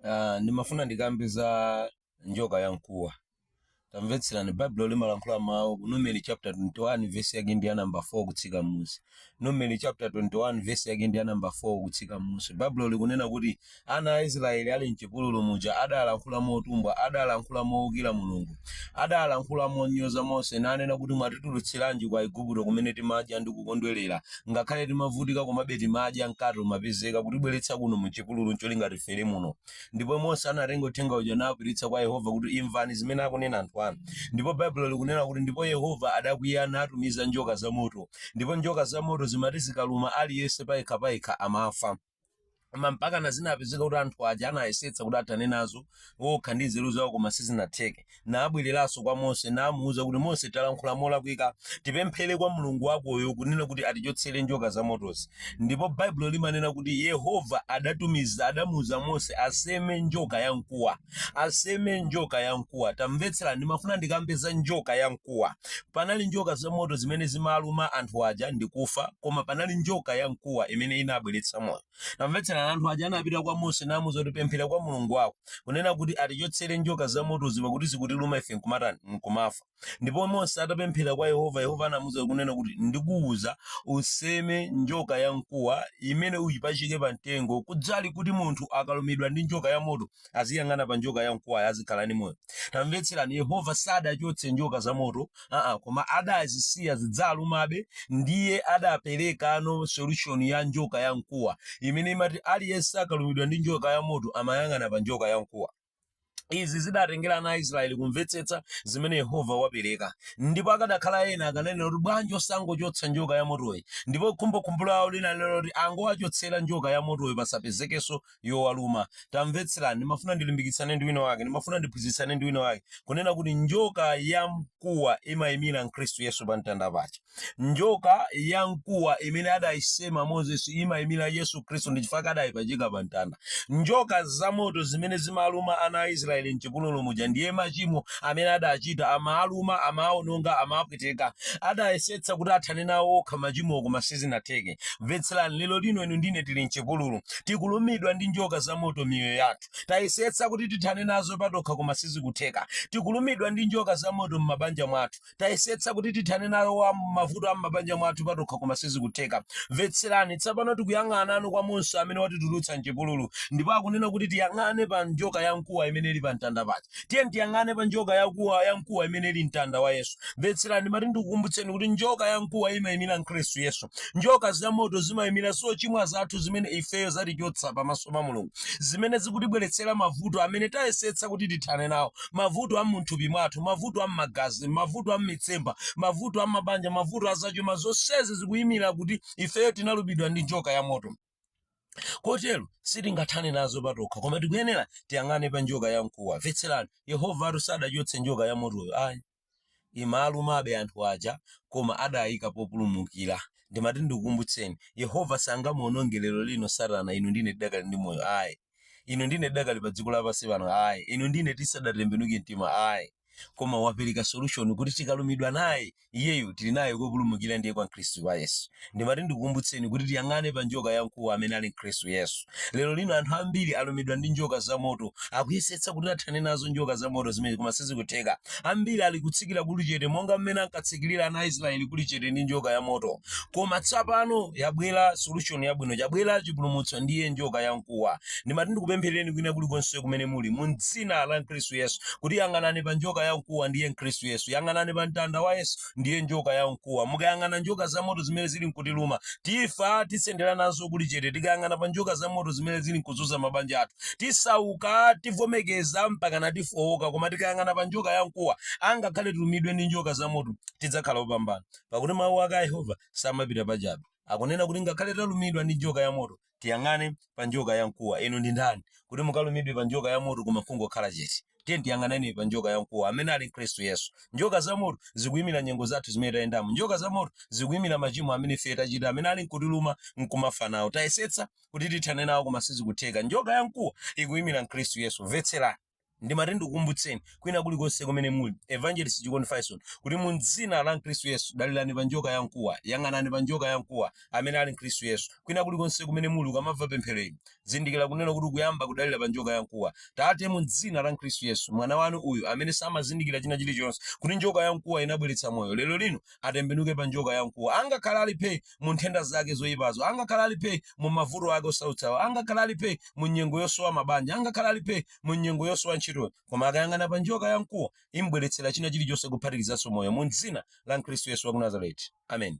Ah, ndimafuna ndikambe za njoka ya mkuwa tamvetserani baibulo limalankhula mawu ku numeri chapter 21 verse yake ndi ya number 4 kutsika m'munsi numeri chapter 21 verse yake ndi ya number 4 kutsika m'munsi baibulo likunena kuti ana a israeli ali mchipululu muja adalankhula motumbwa adalankhula mowukira mulungu adalankhula monyoza mose nanena kuti mwatitulutsiranji kwa igupto kumene timadya ndi kukondwerera Ngakhale timavutika komabe timadya mkate umapezeka kutibweretsa kuno mchipululu ncholinga tifere muno. Ndipo Mose anatenga uthenga uja nawupititsa kwa Yehova kuti imvani zimene akunena anthu anu. Ndipo Baibulo likunena kuti ndipo Yehova adakwiya natumiza njoka zamoto. Ndipo njoka zamoto zimati zikaluma aliyense payekha payekha amafa. koma mpakana zinapezeka kuti anthu aja anayesetsa kuti athane nazo okha ndi nzeru zawo koma sizinatheke nabwereranso kwa mose namuwuza kuti mose talankhula molakwika tipemphere kwa mulungu wakoyo kunena kuti atichotsere njoka za motozi ndipo baibulo limanena kuti yehova adatumiza adamuwuza mose aseme njoka ya mkuwa aseme njoka ya mkuwa tamvetsera ndimafuna ndikambe za njoka ya mkuwa panali njoka za moto zimene zimaluma anthu aja ndikufa koma panali njoka ya mkuwa imene inabweretsa moyo tamvetsera anthu aja anapita kwa mose namuuza kuti pemphera kwa mulungu wako kunena kuti atichotsere njoka za motozi pakuti zikutiluma ife nkumatani nkumafa ndipo mose atapemphera kwa yehova yehova anamuuza kunena kuti ndikuwuza useme njoka ya mkuwa imene uyipachike pa mtengo kudzali kuti munthu akalumidwa ndi njoka ya moto aziyang'ana pa njoka ya mkuwayo azikhala ndi moyo tamvetserani yehova sadachotse njoka za moto aa koma adazisiya zidziluma be ndiye adaperekano solution ya njoka ya mkuwa imene imati aliyense akalumidwa ndi njoka ya moto amayang'ana pa njoka ya mkuwa izi zidatengera ana a israeli kumvetsetsa zimene yehova wapereka ndipo akadakhala ena akananena kuti bwanji osangochotsa njoka ya motoyi ndipo khumbokhumbo lawo linali loti angowachotsera njoka ya motoyi pasapezekenso yowaluma tamvetserani ndimafuna ndilimbikitsane ndi wina wake ndimafuna ndiphunzitsane ndi wina wake kunena kuti njoka ya mkuwa imayimira khristu yesu pa mtanda paja Njoka ya mkuwa imene adayisema Moses imayimira Yesu Khristu ndi chifukwa chake adayipachika pa mtanda. Njoka zamoto zimene zimaluma ana a Israeli m'chipululu muja ndiye machimo amene adachita, amawaluma, amawawononga, amawapweteka. Adayesetsa kuti athane nawo okha machimowo koma sizinatheke. Mvetserani, lero lino inu ndi ine tili m'chipululu. Tikulumidwa ndi njoka zamoto m'miyoyo yathu. Tayesetsa kuti tithane nazo patokha koma sizikutheka. Tikulumidwa ndi njoka zamoto m'mabanja mwathu. tayesetsa kuti tithane nawo wa mavuto a m'mabanja mwathu patokha koma sizikutheka mvetserani tsapano tikuyang'ana anu kwa mose amene watitulutsa mchipululu ndipo akunena kuti tiyang'ane pa njoka ya mkuwa imene ili pa mtanda paja tiyeni tiyang'ane pa njoka ya kuwa ya mkuwa imene ili mtanda wa yesu mvetserani mati ndikukumbutseni kuti njoka ya mkuwa imayimira khristu yesu njoka za moto zimayimira zochimwa zathu zimene ifeyo zatichotsa pamaso pa mulungu zimene zikutibweretsera mavuto amene tayesetsa kuti tithane nawo mavuto a munthupi mwathu, mavuto a mmagazi, mavuto a mmitsempha, mavuto a mabanja, mavuto a zachuma, zonsezi zikuyimira kuti ifeyo tinalumidwa ndi njoka ya moto. kotero sitingathane nazo patokha koma tikuyenera tiyang'ane pa njoka ya mkuwa mvetserani yehova atu sadachotse njoka ya motoyo ayi Imalumabe anthu aja koma adaika populumukira. Ndimati ndikukumbutseni, Yehova sangamuononge lero lino Satana inu ndi ine tidakali ndi moyo ayi. Inu ndi ine tidakali pa dziko lapansi pano ayi. Inu ndi ine tisadatembenuke mtima ayi. Koma wapereka solution kuti tikalumidwa naye, iyeyo tili naye kopulumukira ndiye kwa Mkhristu wa Yesu. Ndimati ndikukumbutseni kuti tiyang'ane pa njoka ya mkuwa amene ali Khristu Yesu. Lero lino anthu ambiri alumidwa ndi njoka za moto. Akuyesetsa kuti athane nazo njoka za moto zimene koma sizikutheka. Ambiri ali kutsikira kuli chete monga mmene ankatsikirira ana a Israeli kuli chete ndi njoka ya moto. Koma tsapano yabwera solution yabwino, chabwera chipulumutso ndiye njoka ya mkuwa. Ndimati ndikupempherereni kwina kulikonse kumene muli mu m'dzina la Khristu Yesu kuti yang'anani pa njoka ya mkuwa ndiye Khristu Yesu. Yang'anani pa mtanda wa Yesu. ndiye njoka ya mkuwa mukayang'ana njoka za moto zimene zili nkutiluma tifa tisendera nazo kuli chete tikayang'ana pa njoka za moto zimene zili nkuzunza mabanja athu tisauka tivomekeza mpaka natifowoka koma tikayang'ana pa njoka ya mkuwa angakhale tilumidwe ndi njoka za moto tidzakhala opambana pakuti mawu ake a yehova samapita pachabe akunena kuti ngakhale talumidwa ndi njoka ya moto tiyang'ane pa njoka ya mkuwa inu ndi ndani kuti mukalumidwe pa njoka ya moto koma kungokhala chete tiyeni tiyang'aneni pa njoka ya mkuwa amene ali khristu yesu njoka za moto zikuyimira nyengo zathu zimene tayendamo njoka za moto zikuyimira machimo amene ife tachita amene ali nkutiluma nkumafa nawo tayesetsa kuti tithane nawo koma sizikutheka njoka ya mkuwa ikuyimira mkhristu yesu mvetserani Ndimati ndikukumbutseni, kwina kulikonse kumene muli, Evangelist Chikondi Fyson, kuti mu dzina la Khristu Yesu, dalirani pa Njoka ya Mkuwa, yang'anani pa Njoka ya Mkuwa, amene ali Khristu Yesu. Kwina kulikonse kumene muli, ukamamva pemphero ili, zindikira kunena kuti ukuyamba kudalira pa Njoka ya Mkuwa. Tate, mu dzina la Khristu Yesu, mwana Wanu uyu amene samazindikira china chilichonse, kuti Njoka ya Mkuwa inabweretsa Moyo, lero lino, atembenuke pa njoka yamkuwa, angakhale ali phe mu nthenda zake zoyipazo, angakhale ali phe mu mavuto ake osautsawo, angakhale ali phe mu nyengo yosowa mabanja, angakhale ali phe mu nyengo yosowa ntchitoyo, koma akayang'ana pa njoka yamkuwa imbweretsera china chilichonse kuphatikizanso moyo, mu dzina la Khristu Yesu wa ku Nazareti. Amen.